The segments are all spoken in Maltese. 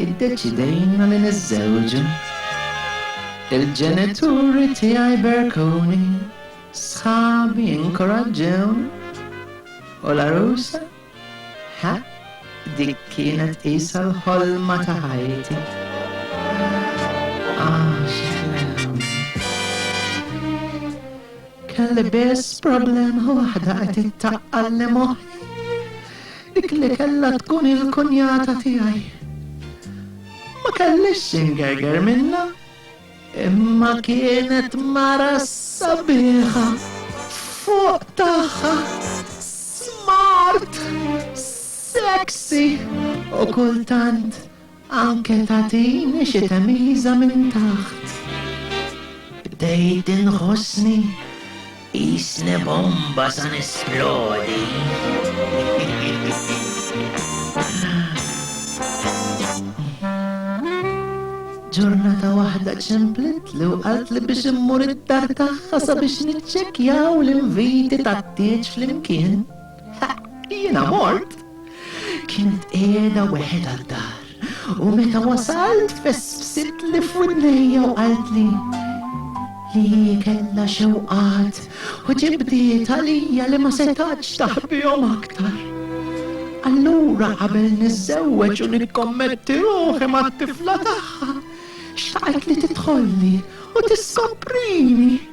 Iddeċidejna li niżżewġu. Il-ġenituri tiegħi berkuni, sħabi inkoraġġewni, u l-għarusa? Ħa, dik kienet qisha l-ħolma ta' ħajti. Ah, xi ħlew. Kelli biss problema waħda qed ittaqqalli moħħi. Dik li kellha tkun il-kunjata tiegħi. Ma kellix xingerger minna, imma kienet mara sabiħa fuq tagħha smart, sexy u kultant Anke tagħtini xi temiża minn taħt. Bdejt inħossni qisni bomba sa nesplodi. Ġurnata waħda ċemplitli u qaltli biex immur id-dar tagħha sabiex niċċekkjaw l-inviti tat-tieġ flimkien. Jiena mort. Kienet qiegħda weħedha d-dar u meta wasalt fessbsitli f'widnejja u qaltli li hi kellha xewqat u ġibdiet għalija li ma setgħatx taħbihom aktar. Allura qabel niżżewweġ u nikkommetti ruħi mat-tifla tagħha, xtaqet li tidħolli u tiskoprini.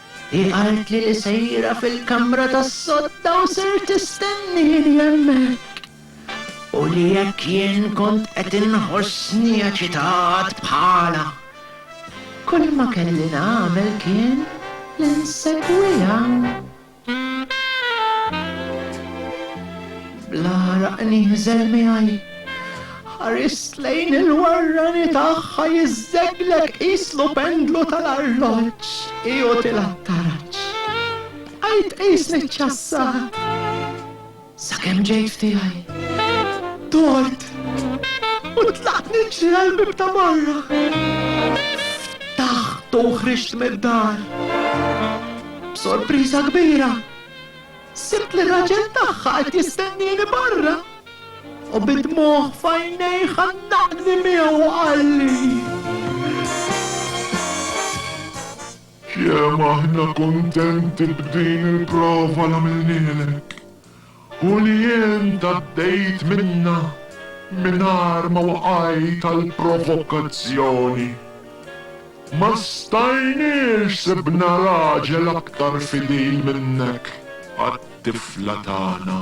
Hi qaltli li sejra fil-kamra tas-sodda u ser tistennini hemmhekk, u li jekk jien kont qed inħossni eċitat bħalha, kulma kelli nagħmel kien li nsegwiha. Bl-għaraq nieħżel miegħi. Ħarist lejn il-warrani tagħha jiżżegleg qislu pendlu tal-arloġġ ioti l-attaraġġ. Bqajt qisni ċċassat sakemm ġejt f'tiegħi. Dort u tlaqt niġri għall-bieb ta' barra. Ftaħtu u ħriġt mid-dar. B'sorpriża kbira. Sibt li r-raġel tagħha qed jistennieni barra u bid-dmugħ f'għajnejh għannaqni miegħu u qalli. Kemm aħna kuntenti b'din il-prova li għamilnielek u li int għaddejt minnha mingħajr ma waqajt għall-provokazzjoni. Ma stajniex sibna raġel aktar fidil minnek għat-tifla tagħna.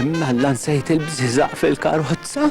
Imma Alla nsejt il-bżiżaq fil-karozza?